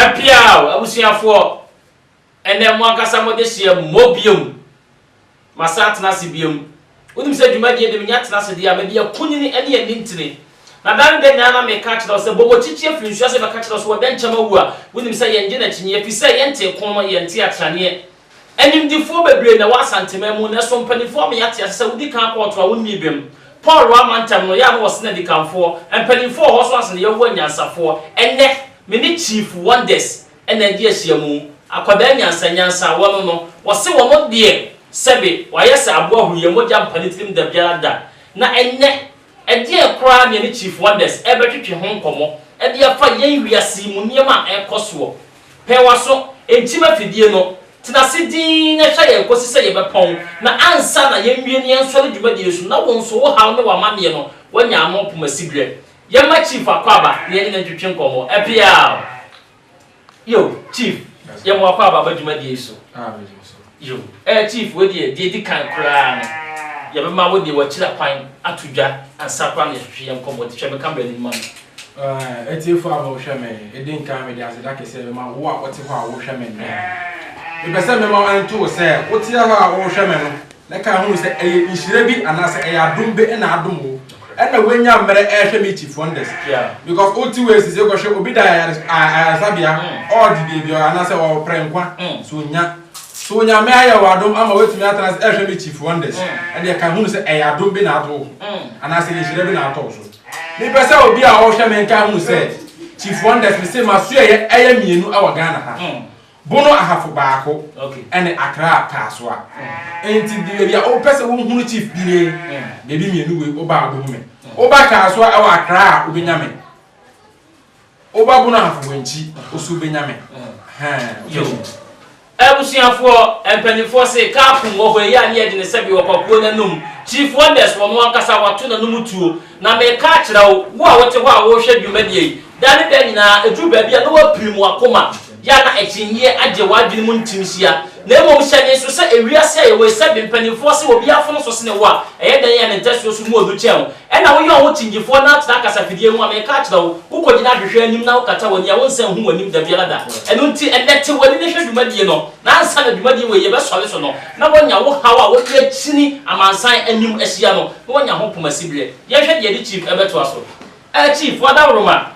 Ɛpeaw, abusuafoɔ, ɛnnɛ mo ankasa mo adehyeɛ mmɔ bio. Masan atena ase bio. Wonim sɛ dwumadie deɛ menya tena ase deɛ a, mede akunini ne anintini. Na da ne da nyinaa na meka kyerɛ wo sɛ, bɔ mo kyikyi afiri nsuase bɛka kyerɛ wo sɛ, ɔdɛnkyɛm awu a, wonim sɛ yɛnnye no akyinnyeɛ, ɛfiri sɛ yɛntee ko no, yɛntee atraneɛ. Animdefoɔ bebree na ɛwɔ Asanteman mu, nanso mpanimfoɔ ama yɛate ase sɛ wodi kan kɔ ɔtoa wo nnii bem. Paul wamma ntɛm no, yɛ a na wɔsene adikanfoɔ. Mpanimfoɔ wɔ hɔ nso asene Yehowa anyansafoɔ. Ɛnnɛ, me ne Chief Wonders na adi ahyiamu. Akwadaa nyansanyansa a wɔno no, wɔse wɔno deɛ sɛbe wayɛ sɛ aboa huru yɛn mogya mpa ne tirim da biara da. Na ɛnnɛ. Ɛdeɛn koraa na yɛne Chief Wonders rebɛtwetwe ho nkɔmmɔ de afa yɛn wiase yi mu nneɛma a ɛrekɔ soɔ? Pɛ w'aso, nkyim afidie no, tena ase dinn na hwɛ yɛn kɔsi sɛ yɛbɛpɔn, na ansa na yɛnwie ne yɛnsɔre dwumadie so na wo nso wo haw ne w'amanneɛ no woanya ano poma siberɛ. Yɛmma Chief Akwaaba ne yɛne no ntwetwe nkɔmmɔ. Ɛpeaw! Yo, Chief, yɛ mo akɔ aba ba dwumadie yi so. Ah, medi mo so. Yo, eh, Chief, wei deɛ, deɛ edi kan koraa no, yɛbɛma wo deɛ w'akyira kwan ato dwa ansa koraa na yɛahwehwɛ yɛn nkɔmmɔ de. Hwɛ me camera no mu ma me. Eh, atiefo a morehwɛ me, edi nkan mede aseda kɛseɛ bɛma wo a wote hɔ a worehwɛ me nnɛ. Mepɛ sɛ mema ɛnto wo sɛ, woteɛ hɔ a worehwɛ me no, Na kan hunu sɛ ɛyɛ nhyira bi anaasɛ ɛyɛ adom be na adom wo na woanya mmerɛ rehwɛ me Chief Wonders because wote wei sesei kɔhwɛ obi da ayaresabea ɔregye baabi anaasɛ ɔreprɛ nkwa so ɔnya so Nyame ayɛ wo adom ama woatumi atena ase rehwɛ me Chief Wonders ɛdeɛ kan hunu sɛ ɛyɛ adom be na ato wo ho anaasɛ ɛyɛ nhyira bi na atɔ wo so Mepɛ sɛ obi a ɔrehwɛ me nkan hunu sɛ Chief Wonders mese m'asoɛeɛ ɛyɛ mmienu wɔ Ghana ha. Bono ahafo baako ne Accra Paasoa. Enti baabi a wopɛ sɛ wohunu Chief bi nie, baabi mmienu wei, woba a wobɛhu me. Woba Kaasoa wɔ Accra a, wobɛnya me. Woba Bono ahafo wɔ Nkyi, wo nso wobɛnya me. Ɛhɛn. Abusuafoɔ, mpanimfoɔ se kaa pum wɔ hɔ, ɛyɛ a ne yɛde no sɛbe ɔpakuo no anom. Chief Wonders wɔn ankasa, wato n'anom tuo. Na mereka akyerɛ wo, wo a wote hɔ a worehwɛ dwumadie yi, da ne da nyinaa, ɛduru baabi a na woapirim w'akoma, yɛ a na akyinnyeɛ agye w'adwene mu ntim hyia. Na mmom hyɛ ne nso sɛ ewiase a yɛwɔ yi, sɛbe mpanimfoɔ se obi afom so sene wo a, ɛyɛ dɛn a ne ntasuo so mu ɔdu kyɛn wo? Ɛna woyɛ wo ho kyinnyefoɔ na atena kasafidie ho a, mereka akyerɛ wo, wokɔgyina hwehwɛ anim na wokata w'ani a wonsan nhu w'anim dabiara da. Ɛno nti, ɛnnɛ te w'ani na hwɛ dwumadie no, na ansa na dwumadie wei yɛbɛsɔre so no, na woanya wo haw a wode akyini amansan anim ahyia no. na wɔanya ho koma siberɛ. Yɛnhwɛ deɛ ɛde Chief ɛbɛtoa so. Ɛɛ Chief, Wadaworoma,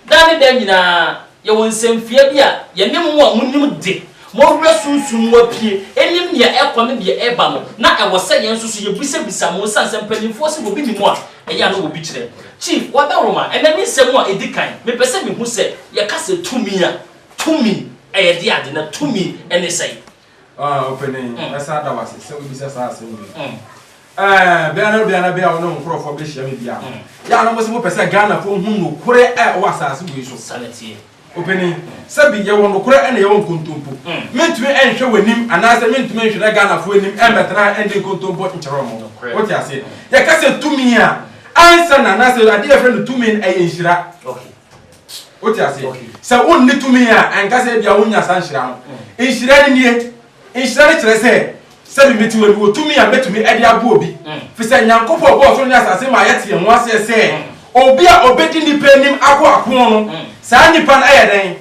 daa ne daa nyinaa yɛwɔ nsɛmfua bi a yɛne mo a monim de, mo werɛ sunsum mo apue, ɛnim deɛ ɛrekɔ ne deɛ ɛreba no, na ɛwɔ sɛ yɛn nso so yɛbisabisa mo ɛsiane sɛ mpanimfoɔ se wɔbi nim a, ɛyɛ a na wɔbi kyerɛ. Chief, Wadaworoma, ɛnnɛ me nsɛm a ɛdi kan, mepɛ sɛ mehu sɛ yɛka sɛ tumi a, tumi ɛyɛ deɛ ade na tumi ne sɛn? Ah, ɔpanyin, mɛsan ada wo ase sɛ wubisa saa asɛm wei. Ɛɛ, bia na bia na bia wo ne wo nkorɔfoɔ bɛhyia me bia no, yɛ a na wɔsi wɔpɛ sɛ Ghanafoɔ hu nokorɛ a ɛwɔ asaase wei so. Saa na ɛteɛ. Ɔpanyin, sɛbi yɛwɔ nokorɛ na yɛwɔ nkontompo. Mentumi nhwɛ w'anim anaasɛ mentumi nhwere Ghanafoɔ anim mmɛtena ha ndi nkontompo nkyerɛ wɔn. Nokorɛ. Wote aseɛ? Yɛka sɛ tumi a, ansa na anaasɛ adeɛ a yɛfrɛ no tumi no, ɛyɛ nhyira. Okay. Wote aseɛ? Sɛ wonni tumi a, ɛnka sɛ ebia wonnya saa nhyira no. Nhyira no nie, Nhyira no kyerɛ sɛ, sɛdeɛ mete wɔ yi, mewɔ tumi a mɛtumi de aboa obi. Ɛfiri sɛ Nyankopɔn ɔbɔɔ soro ne asase maa yɛte yɛn ho aseɛ sɛ, obi a ɔbɛdi nnipa anim ako ako no, saa nnipa no ayɛ dɛn?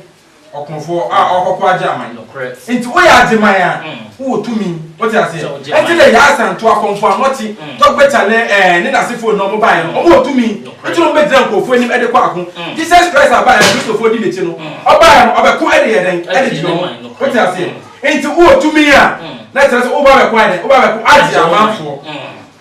Ɔkofoɔ a ɔrekɔko agye aman. Nokorɛ. Enti woyɛ agyeman a, wowɔ tumi. Wote aseɛ? Sɛ wogye aman. Ɛnti na Yaa Asantewaa, Komfo Anokye, Tɔgbɛ Kyalɛ ɛɛ ne n'asefoɔ nyinaa wɔbaeɛ no, wɔwɔ tumi. Nti na ɔbɛgyina nkurɔfoɔ anim de kɔ ako. Jesus Christ a baeɛ a Kristofoɔ di n'akyi no, ɔbaeɛ no, ɔbɛko de yɛ dɛn? De gye ne ho. Wote aseɛ? Nti wowɔ tumi a, na kyerɛ sɛ woba abɛko ayɛ dɛn? Woba abɛko agye amanfoɔ.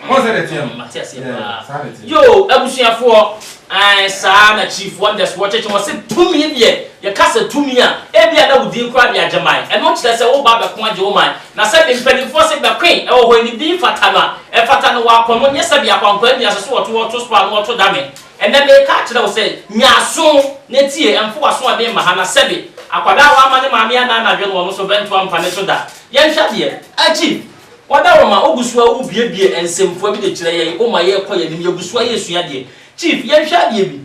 Woahu sɛdeɛ ɛteɛ no? Mate aseɛ Yeah, paa. saa na ɛteɛ. Yoo, abusuafoɔ, ae, saa na Chief Wonders wɔ kyɛkyɛ. Wɔse tumi deɛ, yɛka sɛ tumi a, ebia na wo din koraa de agye man. Ɛno kyerɛ sɛ woba abɛko agye wo man. Na sɛde mpaninfoɔ se bɛkoe wɔ hɔ ne din fata no a, ɛfata no wɔ akɔm nyɛ sɛdeɛ akwankwaa nni aseso wɔto wɔto spo ano wɔto dame. Ɛnnɛ meeka akyerɛ wo sɛ, nya aso na tie, ɛmfo w'asoɔden mma ha, na sɛbe akwadaa a wamma ne maame anna anadwo no wɔno so bɛnto ampa ne so da. Yɛnhwɛ adeɛ. Akyi, wada wo ma wogu so ara wobuebue nsɛmfua bi de kyerɛ yɛn, woma yɛkɔ yɛn anim, yɛgu so ara yɛresua adeɛ. Chief, yɛnhwɛ adeɛ bi.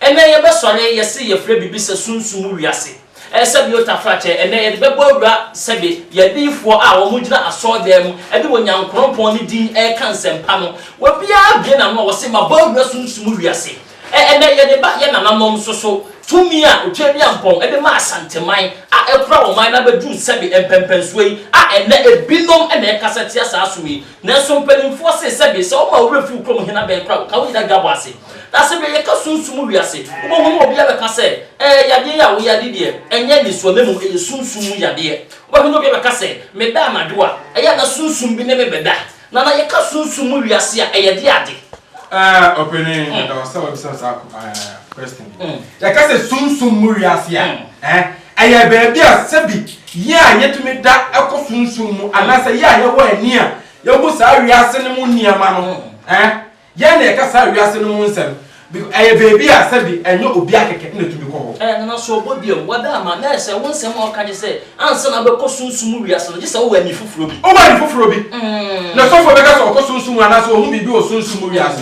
Ɛnnɛ yɛbɛsɔre yɛse yɛfrɛ biribi sɛ sunsum mu wiase ɛsɛ bi otaforakyɛ ɛnnɛ yɛde bɛbɔ awura sɛbe yɛ adiyifoɔ a wɔn gyina asɔɔdan mu ɛde Onyankorɔnpɔn ne din ɛreka nsɛmpa no wɔbiara abue n'ano a wɔse mabɔ awura sunsum mu wiase ɛ ɛnnɛ yɛde ba yɛ nananom nso so tumi a Otwaadiampɔn ɛde maa Asanteman a ɛkora ɔman no abɛduru sɛbe mpɛnpɛnsoɔ yi a ɛnnɛ ebinom na ɛkasa tia saa som yi Nanso mpanimfoɔ se, Sɛbe sɛ woma wo werɛ fi wo kurom hene abɛn koraa a, wɔka wo nyina dwa bɔ ase. Na sɛbe yɛka sunsum mu wiase, wobɛhu na obiara bɛka sɛ, Ɛɛ, yadeɛ yi a woyɛ ade deɛ, ɛnyɛ nnisoɔ, na mmom ɛyɛ sunsum mu yadeɛ. Wobɛhu na obiara bɛka sɛ, Meda anadwo a, ɛyɛ a na sunsum bi ne me bɛda. Na na yɛka sunsum mu wiase a, ɛyɛ deɛ ade. Ɛɛ, ɔpanin, meda wo sɛ woabisa saa question yi. Yɛka sɛ sunsum mu wiase a, ɛɛ. Ɛyɛ baabi a sɛbi yɛn a yetumi da kɔ sunsum mu anaasɛ yɛn a yɛwɔ ani a yehu saa wiase no mu nneɛma no, ɛɛ, yɛn na yɛka saa wiase no mu nsɛm, biko, ɛyɛ baabi a sɛbi ɛnyɛ obia kɛkɛ na etumi kɔ hɔ. Ɛɛ, Nana, so ɔbɔ bi am? Wada ama na ɛyɛ sɛ wo nsɛm a woka nye sɛ ansa na wobɛkɔ sunsum mu wiase no, gye sɛ wowɔ ani foforo bi. Wowɔ ani foforo bi. Na sɔfo bɛka sɛ ɔkɔ sunsum mu anaasɛ ohu biribi wɔ sunsum mu wiase.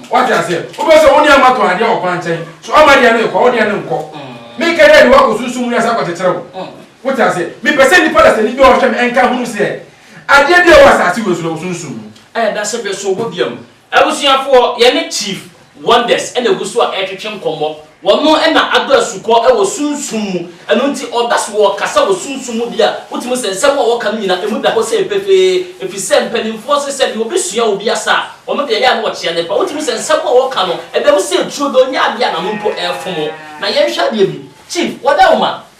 Wate aseɛ? Wobɛ sɛ wo ne ama tɔn adeɛ wɔ kwan nkyɛn. So ama deɛ no yɛ kwa? Wo deɛ no nkɔ. Me kɛ dɛ de wakɔ sunsum wiase akɔ kyekyere wo. Wote aseɛ? Me pɛ sɛ nnipa dasani bi a ɔhwɛ me nka hunu seɛ adeɛ bi a ɛwɔ asase wei so no wɔ sunsum mu. Ɛyɛ da sɛ bɛ so bɔ dua mu. Abusuafoɔ, yɛne Chief Wonders na ɛgu so a ɛretwetwe nkɔmmɔ. Wɔn na adɔ asukɔ wɔ sunsum mu, ɛno nti ɔda so wɔ ɔkasa wɔ sunsum mu bi a wotumi sɛ nsɛm a wɔka no nyinaa emu da hɔ sei pefee, efisɛ mpaninfoɔ se sɛ deɛ obi sua obi asa a, wɔn deɛ ɛyɛ a na wɔkyea ne pa. Wotumi sɛ nsɛm a wɔka no ɛda mu sei turodoo nyɛ adeɛ a n'ano mpo ɛrefom. Na yɛnhwɛ adeɛ bi, Chief, wɔda wo ma.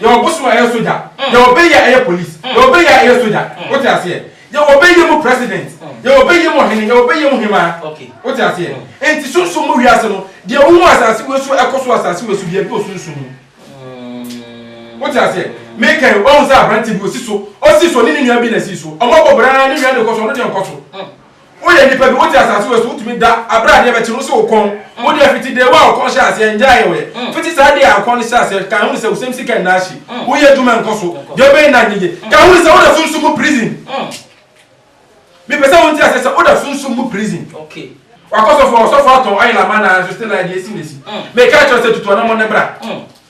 Yɛwɔ bosom a ɛyɛ sogya. Yɛwɔ bɛyi a ɛyɛ polis. Yɛwɔ bɛyi a ɛyɛ sogya. Wote aseɛ? Yɛwɔ bɛyie mu president. Yɛwɔ bɛyie mu ɔhene. Yɛwɔ bɛyie mu hemaa. Wote aseɛ? Enti sunsum mu wiase no, deɛ wohu wɔ asase wei so a ɛkɔ so wɔ asase wei so biara, ebi wɔ sunsum mu. Wote aseɛ? Meka yi, woahu sɛ aberanteɛ bi, ɔsi so. Ɔsi so, ɔne ne nua bi na ɛsi so. Wɔabɔ bra ara, ne nua deɛ kɔ so, ɔno deɛ nkɔ so. Woyɛ nipa bi, wote asase wei so, wotumi da aberɛ adeɛ bɛkye no, wosɛ wo kɔn, wo deɛ fiti day one a ɔkɔn hyɛɛ aseɛ, ngyaeɛ ɔyɛ, fiti saa day a ɔkɔn no hyɛɛ aseɛ, kan hunu sɛ wo sɛm sika nna ahye, woyɛ adwuma nkɔ so, deɛ wobɛyɛ nna nyɛ yie, kan hunu sɛ woda sunsum mu prison, mepɛ sɛ wonte aseɛ sɛ woda sunsum mu prison. Wakɔ sɔfoɔ hɔ, sɔfoɔ atɔn oil ama no ara nso still ayɛ deɛ ɛsi na ɛsi, meka kyerɛ wo sɛ tutu anammɔn no bra.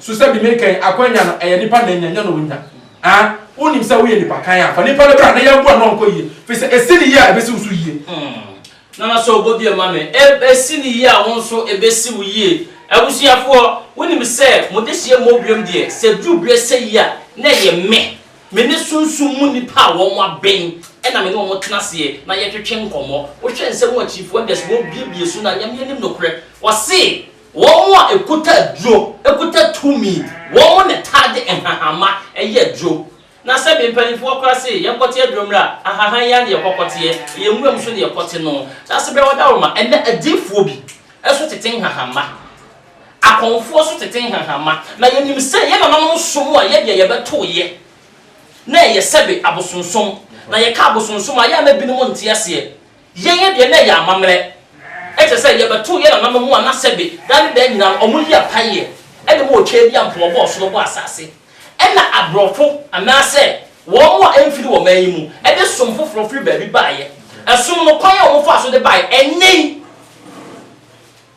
So sɛ bi mekɛn akwanya no ɛyɛ nipa na enya nyɛ na onya ah wonim sɛ woyɛ nipa kan a fa nipa no bra na yɛn boa no ɔnkɔ yie firi sɛ esi no yie a ebesi wo so yie. Hmm Nana so bɔ bio ma me eb esi no yie a wo nso ebesi wo yie abusuafoɔ wonim sɛ mo dehyeɛ mmɔbuam deɛ sɛ duru berɛ sɛyi a na ɛyɛ me me ne sunsum mu nipa a wɔn abɛn ɛna me ne wɔn tena aseɛ na yɛtwetwe nkɔmɔ wohwɛ nsɛm akyi wonders wɔn bie bie so na nyame anim nokorɛ ɔse Wɔn a ɛkuta aduro kuta tumi, wɔn na taa de nhahama yɛ aduro. Na sɛbe mpaninfoɔ koraa se, Yɛnkɔte aduro mmra, ahahan yi ara na yɛkɔkɔteɛ, ɛyɛ nwuram so na yɛkɔte no. Nanso berɛ a wɔdaworo ma, ɛnnɛ adiyifoɔ bi nso tete nhahama, akɔmfoɔ nso tete nhahama, na yɛnim sɛ yɛn nananom som a yɛdeɛ yɛbɛtoeɛ na ɛyɛ sɛbe abosonsom, na yɛka abosonsom a, ɛyɛ a na binom nte aseɛ. Yɛyɛ deɛ na ɛyɛ amammerɛ, kyerɛ sɛ yɛbɛtoo yɛn nananom ho ana sɛbe daa ne daa nyinaa no wɔyi apaeɛ de ma ɔtwaa bi a mpo ɔbɔɔ soro bɔɔ asase ɛna aborɔfo anaasɛ wɔn a ɛmfiri wɔ man yi mu de som foforɔ firi baabi baeɛ ɛsom no kwan a wɔfaa so de baeɛ ɛnnɛ yi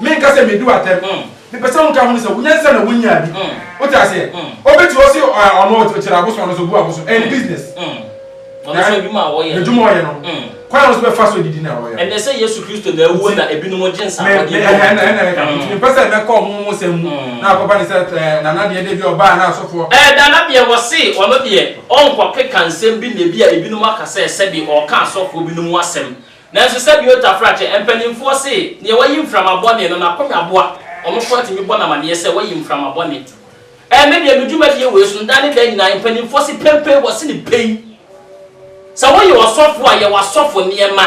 Menka sɛ medi wo atɛm. Mepɛ sɛ woka ho no sɛ wo nyansa na wonyaa bi. Wote aseɛ? Obi te hɔ se ɔno ɔkyerɛ abosom no so obu abosom. Ɛyɛ ne business. Ɛyɛ n'adwuma a ɔyɛ no. Kwan a ɔno nso bɛfa so adidi na ɔyɛ no. Ɛnɛ sɛ Yesu Kristo na awuo na ebinom gye nsaawadeɛ bi a wɔn nti. Ɛna ɛka ho. Nti mempɛ sɛ mɛka wɔn ho nsɛm mu na akɔba no sɛ Nana deɛ deɛ bi a ɔbaa na asɔfoɔ. Ɛɛ Nana deɛ wɔse ɔno deɛ ɔnkɔkeka nsɛm bi na ebi a ebinom aka sɛ sɛdeɛ ɔreka asɔfoɔ binom ho asɛm Nanso sɛdeɛ otafra kyɛ, mpaninfoɔ se, deɛ wayi mframa bɔne no, n'akonya boa, wɔn nko ara tumi bɔ no amaneɛ sɛ wayi mframa bɔne. Ɛɛ, me deɛ me dwumadie wei so, da ne da nyinaa, mpaninfoɔ se penpen, wɔse no pɛn. Sɛ woyɛ ɔsɔfoɔ a, yɛ w'asɔfo nneɛma,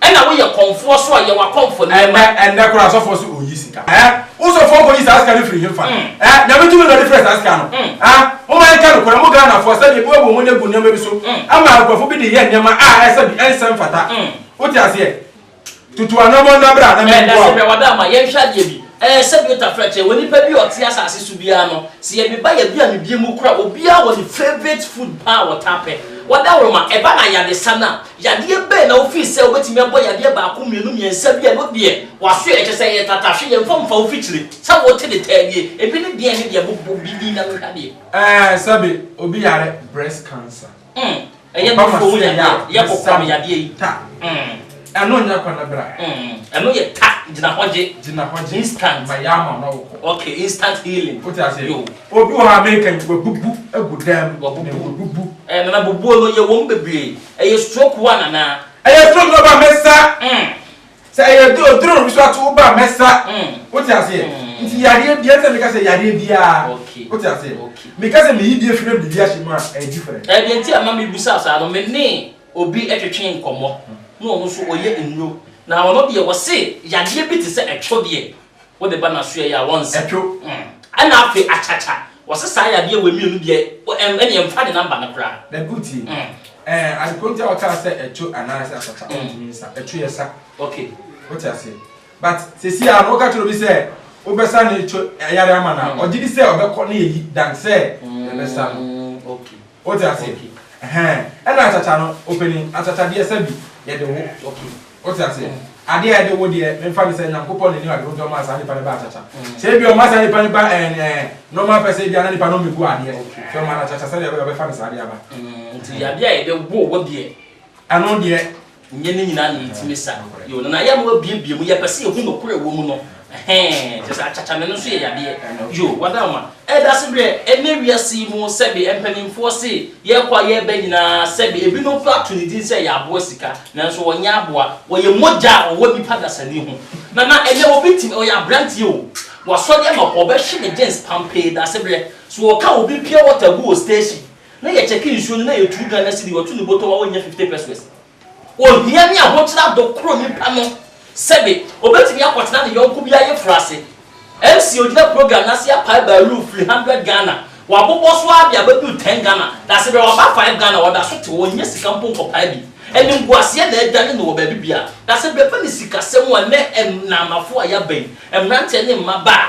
ɛna woyɛ kɔmfoɔ nso a, yɛ w'akɔmfo nneɛma. Ɛnnɛ, ɛnnɛ koraa asɔfoɔ se ɔyi sika. Ɛɛ, Wo sɔfoɔ nkɔyi saa sika no firi hefa? Eh, Nyame tumi na ɔde frɛɛ saa sika no? Ah, momma yɛnka nokorɛ, mo Ghanafoɔ, sɛdeɛ ebi wɔ wɔn ani agu nneɛma bi so ama nkorɔfoɔ bi de yɛ nneɛma a ɛsɛ bi, ɛnsɛ mfata. Wote aseɛ? Tutu anammɔn na bra na menboa wo. Ɛsɛ bra ma yɛnhwɛ adeɛ bi. Eh, sɛdeɛ wotafrɛ kyerɛ wɔ nipa bi a ɔte asase so biara no, sɛ yɛde ba yɛbea me bie mu kora, obiara wɔ ne favourite food paa a ɔtaa pɛ. Wada woroma, ɛba no ayadesa no a, Yadeɛ bɛn na wofii sɛ wobɛtumi abɔ yadeɛ baako mmienu mmiɛnsa bi a ɛno deɛ waso ɛ, kyerɛ sɛ ɛyɛ tata, hwɛ yɛmfa mfa wo fikyire sɛ wote de taa nie, ebi ne deɛn ne deɛn, bobɔ bi din na menhwɛ adeɛ. Ɛɛ sɛbe obi yare breast cancer. Mm, ɛyɛ Ɔba nufoɔ mu m'aso ɛyɛ a, yadeɛ, ɛyɛ mesa kɔkɔm no yadeɛ yi. ta. Mm. Ɛno nyɛ kɔ ne bra. Mm, ɛno yɛ ta, gyina hɔ gye. Gyina hɔ gye. Instant. Mayɛ ama wo na wokɔ. Ok, instant healing. Wote aseɛ? Yo. Obi wɔ hɔ a meka yi, wabubu agu dan mu. Wabubu. Wabubu. Ɛɛ nana bobuo no yɛ wɔm bebree ɛyɛ stroke one anaa. Ɛyɛ stroke no ba mɛsa sɛ ɛyɛ duro duro bi so ato wo ba mɛsa wote aseɛ nti yadeɛ bia ɛnsɛ meka sɛ yadeɛ biaa wote aseɛ meka sɛ meyi bi afiri na mede bi ahyɛ mu a ɛyɛ different. Ɛɛ deɛ nti a ma me bisa saa no me ne obi twetwe nkɔmɔ na ɔno nso ɔyɛ nnuro na ɔno deɛ ɔse yadeɛ bi te sɛ ɛtwo deɛ Wode ba n'asoɛ yi a wɔnsɛ. Ɛtwo. Ɛna afei akyakya. Wɔse saa yadeɛ wei mmienu deɛ ɛnneɛ mfa ne number no koraa. Na good tie. Ɛɛ adekorɔ nti a wɔkaa sɛ ɛtwo anaasɛ akyakya wontumi nsa. Ɛtwo yɛ sa. Okay. Wote aseɛ. But seesei ara no woka kyerɛ obi sɛ wobɛsa ne ɛtwo yare ama no a, ɔgyedi sɛ ɔbɛkɔ na yɛyi than sɛ yɛbɛsa no. Okay. Wo te aseɛ? Okay. Ɛhɛn. Ɛna akyakya no, opanin, akyakya deɛ sɛ bi, yɛde wo. Okay. Wo te aseɛ? Mm. Adeɛ a yɛde wo deɛ, me nfa ne sɛ Nyankopɔn na ɛnim adeɛ nti ɔmaa saa nipa no baa akyakya. Mm. Sɛ ebi ɔma saa nipa no ba ɛn eh, ɛn, normal pɛ sɛ ebi a na nipa no ɔmɛ gu adeɛ. Okay. So ɔma no akyakya sɛdeɛ ɛbɛyɛ ɔbɛfa ne saa adeɛ aba. Mm. Nti adeɛ a yɛde wo wo deɛ. Ɛno deɛ, Nyɛ ne nyinaa na yɛtumi sa yɛo no na yɛma wabiebie mu, yɛpɛ sɛ yɛhu nɔkorɛ a ɛwɔ mu no, ɛhɛɛ, kyerɛ sɛ akyakyame no nso yɛ yadeɛ, yoo, wɔda wo ma ɛdasebrɛ, ɛnnɛ wiase yi mu sɛbe mpaninfoɔ se yɛkɔ a yɛba nyinaa sɛbe ebinom koraa ato ne din sɛ yɛaboa sika, nanso wɔnyɛ aboa, wɔyɛ mogya a ɔwɔ nipa dasani ho, nana ɛnnɛ obi tumi, ɔyɛ abranteɛ o, wasɔre ama hɔ, ɔbɛhye ne gyens pampee, dasebrɛ, so ɔka obi pure water gu wɔ station. Na yɛkyɛke nsuo no na yɛtuu dwan na sidi wɔto ne botɔ wa wɔnya fifte pɛsoɛs. Ohia ne ahokyera do koro nipa no sɛbe obetumi akɔtena ne yɔnko bi ayeforo ase. MC ogyina program no ase apae baaluu firi hundred Ghana, wabobɔ so ara de abɛduru ten Ghana, na sɛbe waba five Ghana a ɔda so te hɔ, onnya sika mpo nkɔpae bi. Animguaseɛ na adwane no wɔ baabi biara. Na sɛbe ɛfa ne sikasɛm a, nnɛ nnaamafo a yɛaba yi, mmeranteɛ ne mmabaa,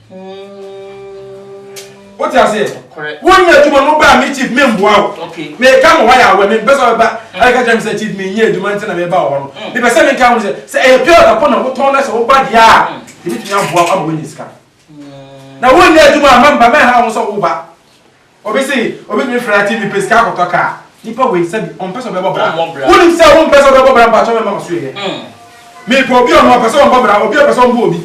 o ti ase wo nyɛ adwuma no baa mi chief mi mboa o mi ka mo hɔ yɛ awɛ mi mpɛ sɛ ɔbɛba ɛyɛ kɛkyɛ mi sɛ chief mi nyɛ adwuma nti na mi ba wɔ hɔ no mi pɛ sɛ mi ka ho sɛ sɛ ɛyɛ pure water po na wotɔn na sɛ woba deɛ a ebi tumi aboa ama wɔnyɛ sika na wo nyɛ adwuma a mɛmba mɛha ho sɛ woba. Obi se obetumi fira TV pe sika akɔtɔ car. Nipa wei sɛbi ɔmpɛ sɛ ɔbɛbɔ bra. Wonim sɛ wompɛ sɛ wobɛbɔ bra mpakyɛw mɛma waso yɛ. Mepɛ obi ɔno ɔpɛ sɛ ɔbɔ bra obi ɔpɛ sɛ ɔmbo obi.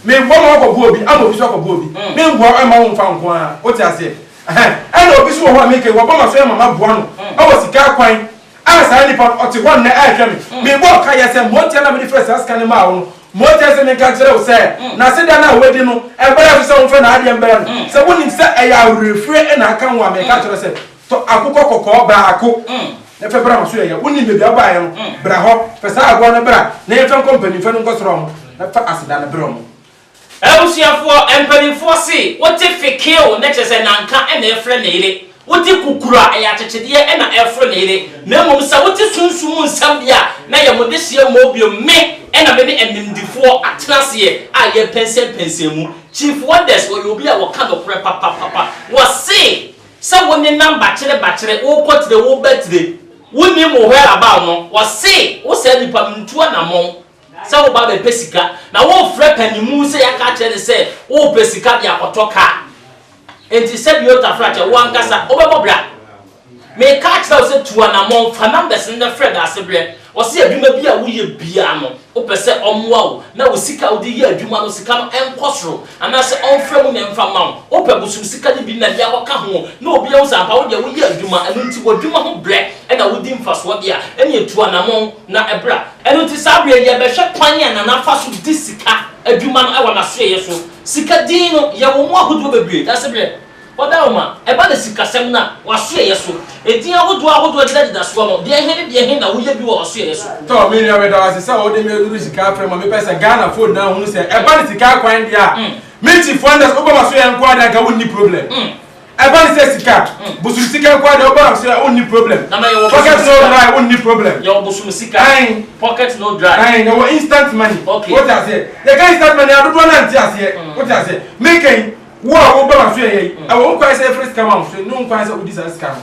Memboa ma wakɔbo obi ama obi so akɔbo obi. Memboa mma womfa wo nko ara. Wote aseɛ? Ɛhɛn. Ɛna obi so wɔ hɔ a meka yi wabɔ maso yɛ ma maboa no wɔ sika kwan A saa nipa no, ɔte hɔ nnɛ rehwɛ me. Mebɔ nkaeɛ sɛ, Motia na mede frɛɛ saa sika no maa wo no. Motia se menka nkyerɛ wo sɛ, n'aseda no a wadi no, ɛberɛ nso sɛ womfa n'adeɛ mbrɛ no. Sɛ wonim sɛ ɛyɛ awerɛfire na aka wo a, meka kyerɛ wo sɛ, tɔ akokɔ kɔkɔɔ baako na fa bra m'aso yɛyɛ. Wonim baabi a wobaeɛ no, bra hɔ. Fa saa aboa no bra na yɛmfa nkɔ mpanimfoɔ no nkɔsra wɔn na fa aseda no brɛ wɔn. Abusuafoɔ mpaninfoɔ se wote fekeo na kyerɛ sɛ nanka na ɛfrɛ ne yere, wote kukuru a ɛyɛ akyekyedeɛ na ɛfre ne yere, na mmom sɛ wote sunsum mu nsɛm deɛ a na yɛ mo dehyeɛ mmɔɔ bio, me na me ne animdefoɔ atena aseɛ a yɛ pɛnsɛn pɛnsɛn mu. Chief Wonders ɔyɛ obi a ɔka nokorɛ papapapa, wɔ se sɛ wo nenam bakyere bakyere, wo kɔ tire wo ba tire, wo nim wo where about no, wɔ se wo saa nipa no ntu anamɔn Sɛ wo ba bɛpɛ sika, na worefrɛ panyinmu sɛ yɛaka akyerɛ no sɛ worepɛ sika de akɔtɔ kaa. Enti sɛdeɛ wotafra kyɛ, wo ankasa wobɛbɔ bra. Mereka akyerɛ wo sɛ tu anammɔn, fa numbers no na frɛ Daasebrɛ. Ɔse adwuma bi a woyɛ biara no, wopɛ sɛ ɔmmoa wo na wo sika a wode yɛ adwuma no sika no nkɔ soro, anaasɛ ɔmfrɛ mu na ɛmfa mma wo. Wopɛ bosom sika no bi na de akɔka ho na obi ahu sɛ ampa wodeɛ woyɛ adwuma, ɛno nti w'adwuma ho brɛ na wodi mfasoɔ deɛ a, ɛneɛ tu anammɔn na bra. Ɛno nti, saa berɛ yi, yɛbɛhwɛ kwan a Nana fa so di sika adwuma no wɔ n'asoɛeɛ so. Sika din no, yɛwɔ mu ahodoɔ bebree. Dasebrɛ, Wɔda wo ma. Ɛba no sikasɛm no a, w'asoɛeɛ so. Edin ahodoɔ ahodoɔ a ɛdedadeda soɔ no, deɛ he ne deɛ he na woyɛ bi wɔ w'asoɛeɛ so? Tɔ, me nua, meda wo ase sɛ wode me aduru sika frɛ ma mepɛ sɛ Ghanafoɔ nyinaa hunu sɛ ɛba no sika kwan deɛ a, me Chief Wonders, wobɔ m'asoɛeɛ nko ara deɛ anka wonni problem. Ɛba ne sɛ sika, bosom sika nko ara deɛ wobɔ nam so a wonni problem. Pocket no dry wonni problem. Yɛwɔ bosom sika, pocket no dry. Ae yɛwɔ instant money. Okay. Wote aseɛ? Yɛka instant money a dodoɔ no ara nte aseɛ. Wote aseɛ? Meka yi, wo a wobɔ nam so yɛ yei, ɛwɔ ho kwan sɛ yɛfrɛ sika ma wo so, ɛnni ho kwan sɛ wodi saa sika no.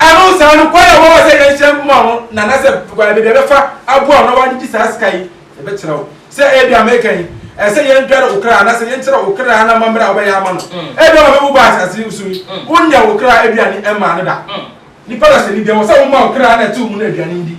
Ɛno saa no, kwan a wɔwɔ sɛ yɛnhyɛ nkɔm a wɔn na anaasɛ baabi a ɛbɛfa aboa a ɔno ara de di saa sika yi, yɛbɛkyerɛ wo. Sɛ ebi a meka yi, ɛsɛ sɛ yɛdwɛre wo kra anaasɛ yɛnkyerɛ wo kra no amammerɛ a wobɛyɛ ama no. Ebia wobɛwu ba asase so yi, wonnya wo kra aduane mmaa no da. Nnipa dahyɛne biara, ɛwɔ sɛ woma wo kra na ɛtew mu na aduane di.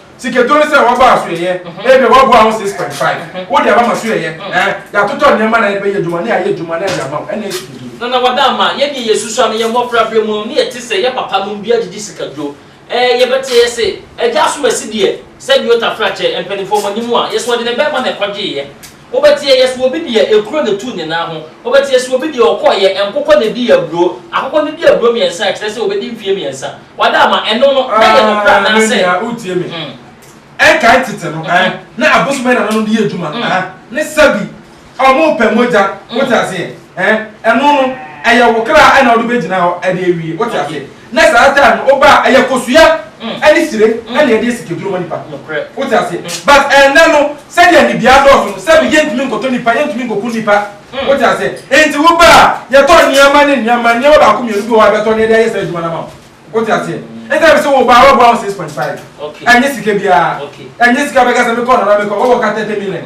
Sikadur ne sɛ wɔba asoɛeɛ, ebia wɔaboa ho six point five, wode aba ma soɛeɛ, ɛɛ, yɛatotɔ nneɛma na yɛde bɛyɛ adwuma, na yɛayɛ adwuma na yɛde ama wo, ɛnna ɛyɛ sikadur. Na na wɔada ama yɛn deɛ yɛsusua no yɛn mmɔfraberɛ mu no, na yɛte sɛ yɛn papanom bi agyegye sikadur. Ɛɛ, yɛbɛte yɛ se, Agya Asomasi deɛ, sɛdeɛ ɔtafra kyɛ mpanimfoɔ mo anim a, yɛse ɔde ne bɛrima na ɛkɔgyeeɛ. Wobɛteɛ yɛ sɛ obi deɛ ekuro na etuu ne nan ho. Wobɛteɛ sɛ obi deɛ ɔkɔɔ yɛ nkokɔ na edii aburo. Akokɔ no di aburo mmiɛnsa a, ɛkyerɛ sɛ obedi mfeɛ mmiɛnsa. Wada ama ɛno no, na ɛyɛ nokorɛ Ah, me anaasɛ? nua, wotie me? Mm. Ɛnkae tete no, eh, na abosom yɛ nananom de yɛ adwuma, Mm. ah, ne sɛbi wɔpɛ mogya, Mm. wote aseɛ, eh, ɛno no, ɛyɛ wo kra na wode bɛgyina hɔ de awie, wote Okay. aseɛ? Na saa time no woba a ɛyɛ kosua ɛne sire ɛna yɛde yɛ sikaduro ma nipa wote aseɛ but ɛnɛ no sɛdeɛ nnibea adɔɔso no sɛbi yɛntumi nkɔtɔ nipa yɛntumi nkɔku nipa wote aseɛ enti woba a yɛtɔ nneɛma ne nneɛma nneɛma baako mmienu bi wɔ hɔ a yɛbɛtɔ na yɛde ayɛ saa adwuma no ama wo wote aseɛ enti ɛbi sɛ woba a wɔboa wo six point five ɛnyɛ sika biara ɛnyɛ sika bɛka sɛ mekɔ nana mekɔ wɔbɔ ka thirty million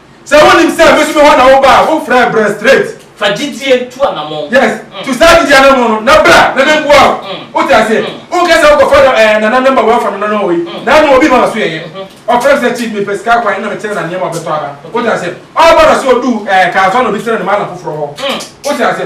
Sɛ wonim sɛ me so me hɔ na woba a wo frɛ brɛ straight. Fa gyidie tu anamɔn. Yes tu saa gyidie anamɔn no na bra na me mboa wo wo te aseɛ wo nkɛ sɛ wo kɔ fa dɔ ɛɛ nana number wo afa nana no wɔ yi na no obi ma wa so yɛyɛ ɔfrɛ me sɛ chief me pɛ sika akwan ɛna me kyerɛ na nneɛma ɔbɛ tɔ aba wo te aseɛ ɔba na so ɔduu ɛɛ kaa so ɛna obi kyerɛ no ma na foforɔ hɔ wo te aseɛ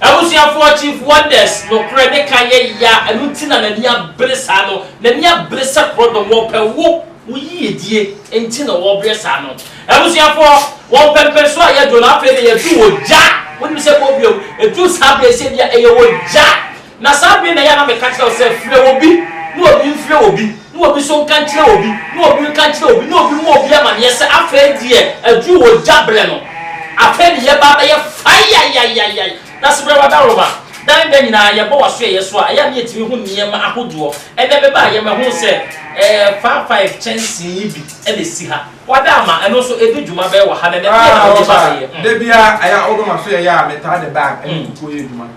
Abusuafoɔ Chief Wonders nokorɛ ne ka yɛ ya ɛno nti na n'ani abere saa no, n'ani abere sɛ korɔdɔm, wɔpɛ wo, wo yiedie nti na wɔbrɛ saa no. Abusuafoɔ, wɔ mpɛmpɛnsoɔ a yɛdwo no afei deɛ yɛduu ogya, wonim sɛ ɛkɔ wiem, ɛduu saa berɛ yi sɛ bia ɛyɛ ogya, na saa berɛ yi na ɛyɛ a na meka kyerɛ wo sɛ frɛ obi na obi mfrɛ obi, na obi nso nka nkyerɛ obi, na obi nka nkyerɛ obi, na obi mma obi amaneɛ sɛ afei deɛ aduru ogya berɛ no, afei de yɛba abɛyɛ fayayayayay. Na se berɛ w'adaworoma dan da nyinaa yɛbɔ w'asoɛeɛ so a, ɛyɛ a na yɛtumi hu nneɛma ahodoɔ. Ɛnnɛ meba a, yɛmɛhunu sɛ ɛɛ faa five kyɛnsee yi bi na ɛsi ha. W'ada ama ɛno nso ɛdi dwuma bɛyɛ wɔ ha nnɛ, na ɛdeɛn na wode baeɛ? Da biara, ɛyɛ a wode w'asoɛeɛ a metaa de bag ɛne kukuo yɛ adwuma.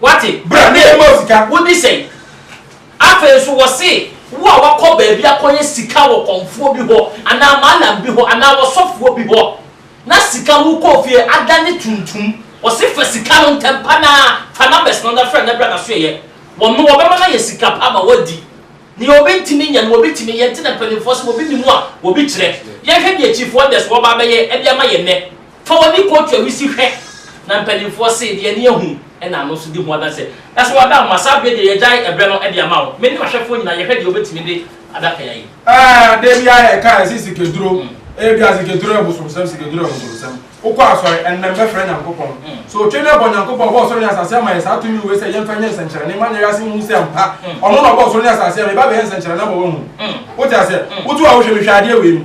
Wate? Bra na yɛmma wo sika. Wodi sɛn? Afei nso wɔse wo a woakɔ baabi akɔyɛ sika wɔ kɔmfoɔ bi hɔ anaa mallam bi hɔ anaa wɔsɔfoɔ bi hɔ na sika no wokɔɔ fie adane tuntum, wɔse fa sika no ntɛmpa no ara, fa numbers no na frɛ na bra na so yɛyɛ wɔn no wɔbɛma no ayɛ sika pa ama woadi. Nea obi ntumi nyɛ no obi tumi yɛ, nti na mpanimfoɔ se obi nni mu a obi kyerɛ. Yɛnhwɛ deɛ Chief Wonders wɔba abɛyɛ de ama yɛn nnɛ. Fa w'ani kɔ tua wisi hwɛ, na mpanimfoɔ se, deɛ ani ahu na ano nso di ho adanseɛ. Na sɛ wɔada wo ma, saa berɛ deɛ yɛagyae ɛberɛ no de ama wo. Me ne ɔhwɛfoɔ nyinaa yɛhwɛ deɛ wɔbɛtumi de adaka yi ayɛ. Ɛɛ, da biara yɛka yɛse sikaduro, ebia sikaduro yɛ bosomsɛm, sikaduro yɛ bosomsɛm. Wokɔ asɔre, ɛnnɛ mɛfrɛ Nyankopɔn. So wotwe ne bɔ? Nyankopɔn ɔbɔɔ soro ne asase ama yɛn saa tumi wei sɛ yɛmfa nyɛ nsɛnkyerɛnne mma nyɛ wiase nhu sɛ ampa ɔno na ɔbɔɔ soro ne asase ama meba abɛyɛ nsɛnkyerɛnne ama wɔahu. Wote aseɛ? Wotu a wohwɛ me hwɛ adeɛ wei mu.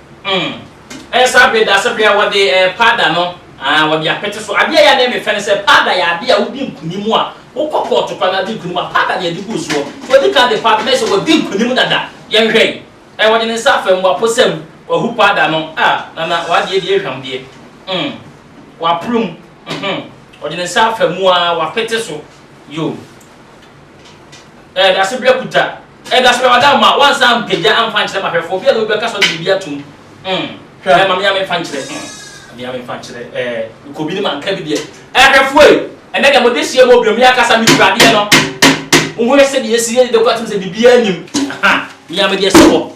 Umm ɛnsa bere da sɛ bere a wɔde ɛɛ powder no aah wɔde apete so. Adeɛ a ɛyɛ a na ɛyɛ me fɛ ne sɛ powder yɛ adeɛ a wodi nkunim a wokɔ court koraa na wode nkunim a powder na yɛde gu soɔ. Nti wɔdi kan de powder na ayɛ sɛ wadi nkunim dada. Yɛnhwɛ yi ɛɛ wɔde ne nsa afa mu waposa mu wahu powder no ah Nana w'adeɛ deɛ ehwam deɛ umm waporo mu uhmm ɔde ne nsa afa mu aa wapete so yoo ɛɛ dasebere akuta Ɛda so Adaw ma wɔansan ampagya amfa ankyerɛ m'ahwɛfoɔ, obiara na obi bɛka sɛ ɔde biribi atom mm hwɛ ɛɛ ma me ara memfa nkyerɛ mm ma me ara memfa nkyerɛ ɛɛ mekɔ bi ne manka bi deɛ Ahwɛfoɔ ei ɛnnɛ deɛ mode seɛ mu ɔbrɛmu yi akasa me kura adeɛ no Monhwɛ sɛdeɛ yɛsiri adeda kɔ atem sɛ biribiara nnim ahaa me ara medeɛ sɛ hɔ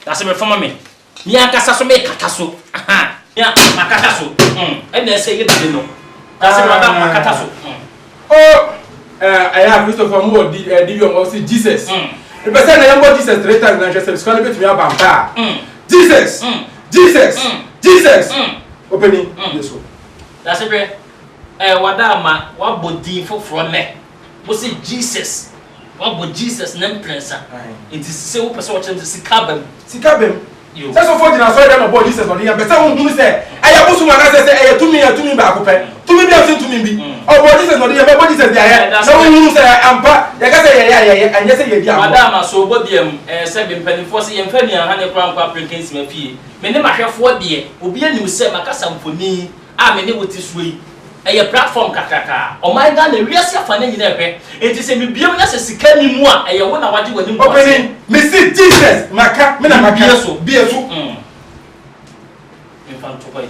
na sɛ mefa ma me. Me ankasa so me kata so ahaa me a ma kata so mm ɛna ɛsɛ yɛ bɛde no na sɛ ma ba ma kata so mm. Oh eh ɛyɛ a Christopher mo wɔ di eh di yɔn ɔsi Jesus me pɛ sɛ na yɛn bɔ Jesus three times na nhwɛ sɛ sukuu no bɛ tumi aba mpa Jesus Jesus Jesus ɔpɛni yɛ so. Dase hwɛ eh wada ama wabɔ din foforɔ nɛ. Wo se Jesus, wabɔ Jesus ne mprɛnsa. Nti se wopɛ sɛ wɔkyerɛ no sɛ sika aba mu. Sika aba mu. Sɛ sɔfoɔ gyina asɔre dɛm na ɔbɔɔ Jesus na ɔde yɛ mpɛ sɛ wohunu sɛ ɛyɛ abosom anaasɛ sɛ ɛyɛ tumi a tumi baako pɛ. Tumi biara nsen tumi bi. Ɔbɔɔ Jesus na ɔde yɛ mpɛ bɔ Jesus deɛ ayɛ na wohunu sɛ ampa yɛka sɛ yɛyɛ a yɛyɛ ɛnyɛ sɛ yɛdi agorɔ. Madam Asobo deɛ mm ɛyɛ sɛ me mpaninfoɔ se yɛmfa nnuanhane koraa nkɔ aprenke nsima fie. Me ne mahwɛfoɔ deɛ obiara nim sɛ makasa mfonin. a me ne wo te soɔ yi, ɛyɛ platform kakraka a ɔman Ghana, wiase afanan nyinaa pɛ, enti sɛ mebue mu na sɛ sika nni mu a, ɛyɛ wo na wagye w'anim gu aseɛ. Opanin, mese Jesus, maka, me na maka. Bue so. Bue so. Mm. Memfa nto hɔ yi.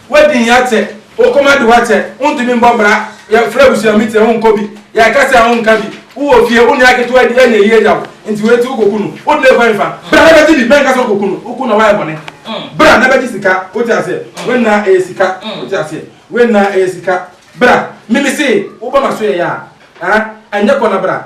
W'adin yɛ atɛ, wo koma de w'atɛ, wontumi mbɔ bra, yɛ frɛ abusua meeting a wo nkɔ bi, yɛ akasa a wo nka bi, wo wɔ fie, wo nua ketewa bi anya yie agya wo, nti wei nti wo kɔ ku no, wo dene kwan fa, bra na bɛ gye bi, mɛ nka sɛ wo kɔ ku no, wo ku no a w'ayɛ bɔne, bra na bɛ gye sika, wo te aseɛ, wei nyinaa ɛyɛ sika, wo te aseɛ, wei nyinaa ɛyɛ sika, bra, me me see, wo ba ma so yɛ yaa, ah, ɛnyɛ kɔ na bra.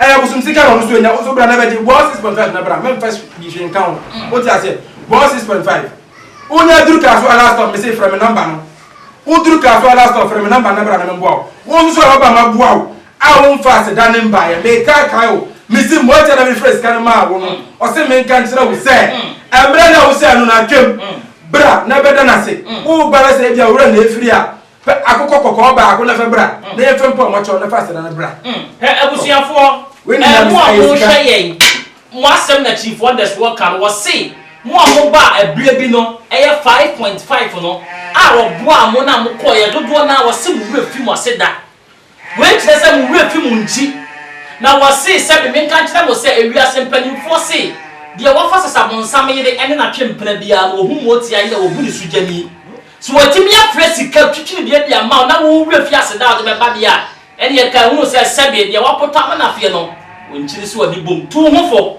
Ɛyɛ abosom sika na ɔno nso nya nso bra na bɛgye bɔɔ six point five na bra mɛnfa bi hwee nka ho wote aseɛ bɔɔ six point five wonya duru kaa so a last stop mese frɛ me namba no woduru kaa so a last stop frɛ me namba na bra na memboa wo wo nso so a waba ma boa wo a womfa aseda ne mbaeɛ mekaa kae o mese mmɔgya na mefrɛ sika no maa wo no ɔse menka nkyerɛ wo sɛ mmerɛ na wo sɛ no na atwam bra na bɛda no ase wo ba na sɛ ebia wura na efiri a Fa akokɔ kɔkɔɔ baako na fa bra, na yɛmfa mpo a wɔakyɛ wo na fa aseda no bra. Mm, hwɛ abusuafoɔ, Wei na ɛɛ mo a Nyamesaeɛ sika. mohwɛ yɛn, mo asɛm na kyifoɔ Ndɛsoɔ ka no, wɔse mo a mobaa ɛberɛ bi no, ɛyɛ five point five no, a wɔboaa mo no a mokɔeɛ, dodoɔ no ara wɔse mo werɛ firi mo ase da. Wei kyerɛ sɛ mo werɛ fi mo nkyi. Na wɔsee sɛbe menka nkyerɛ mo sɛ ewiase mpaninfoɔ se, Deɛ wɔfa sesabonsam yere ne natwempena biara no wɔhu motia yi na wɔbu ne sogyani. Se wɔatumi afrɛ sika twitwirideɛ de ama wo na wo werɛ fi aseda a wode bɛba deɛ a, ɛneɛ kae hunu sɛ sɛbe deɛ wɔapotam nafeɛ no wɔnkyiri se wɔde bom tu wo ho fo.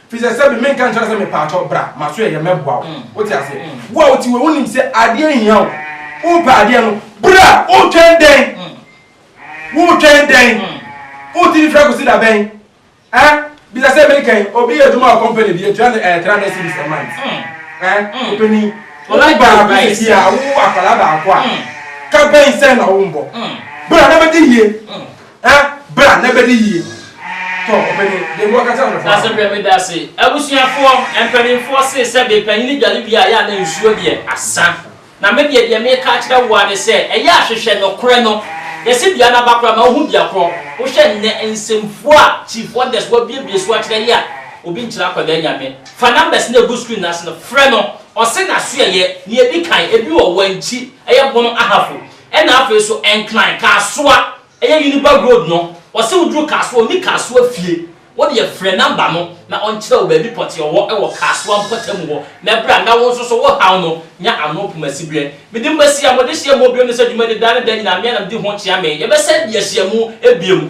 Fisɛ sɛbi menka nkyerɛ sɛ mepaakyɛw bra maso ɛyɛ mɛboa wo wote aseɛ wo a wote wei wonim sɛ adeɛ hia wo wopɛ adeɛ no bra wotwɛn dɛn wotwɛn dɛn wotiri fira kosi da bɛn eh bisa sɛ meka yi obi yɛ adwuma wɔ company bi atua no ɛɛ three hundred cedis a month eh ɔpɛni wɔn baako yɛ si a wo akwadaa baako a ka bɛn sɛ na wo mbɔ bra na bɛdi yie. Ɛ, bra na bɛ di yie. Tɔ, ɔbɛ ni, deɛ bi wɔka kyerɛ nkorɔfoɔ a. Dase brɛ me dase. Abusuafoɔ, mpaninfoɔ see sɛ de panyini dware wie a ɛyɛ a na nsuo deɛ asa. Na me deɛ deɛ meka akyerɛ wo ara ne sɛ ɛyɛ a hwehwɛ nokorɛ no. Yɛse dua no aba koraa ma wohu dua korɔ. Wohwɛ nnɛ nsɛmfua a Chief Wonders wabuebue so akyerɛ yɛ a, obi nkyerɛ akwadaa Nyame. Fa numbers no a ɛgu screen no ase no frɛ no. Ɔse n'asoɛyɛ, nea ɛdi kan, ebi wɔ Wankyi, ɛyɛ Bono Ahafo. Ɛna afei nso Nkran, Kasoa, ɛyɛ Uniberg road no, ɔse woduru Kasoa ɔnni Kasoa fie, wodeɛ frɛ number no na ɔnkyerɛ wo baabi pɔtee ɔwɔ wɔ Kasoa mpɔtamu hɔ na bra nna wo nso so wo haw no nya ano Kumasiberɛ. Medin Basia, modehyiamuo bio no sɛ dwumadi da ne da nyinaa mea na medi ho kyea me yɛbɛsan de ahyiamu bio.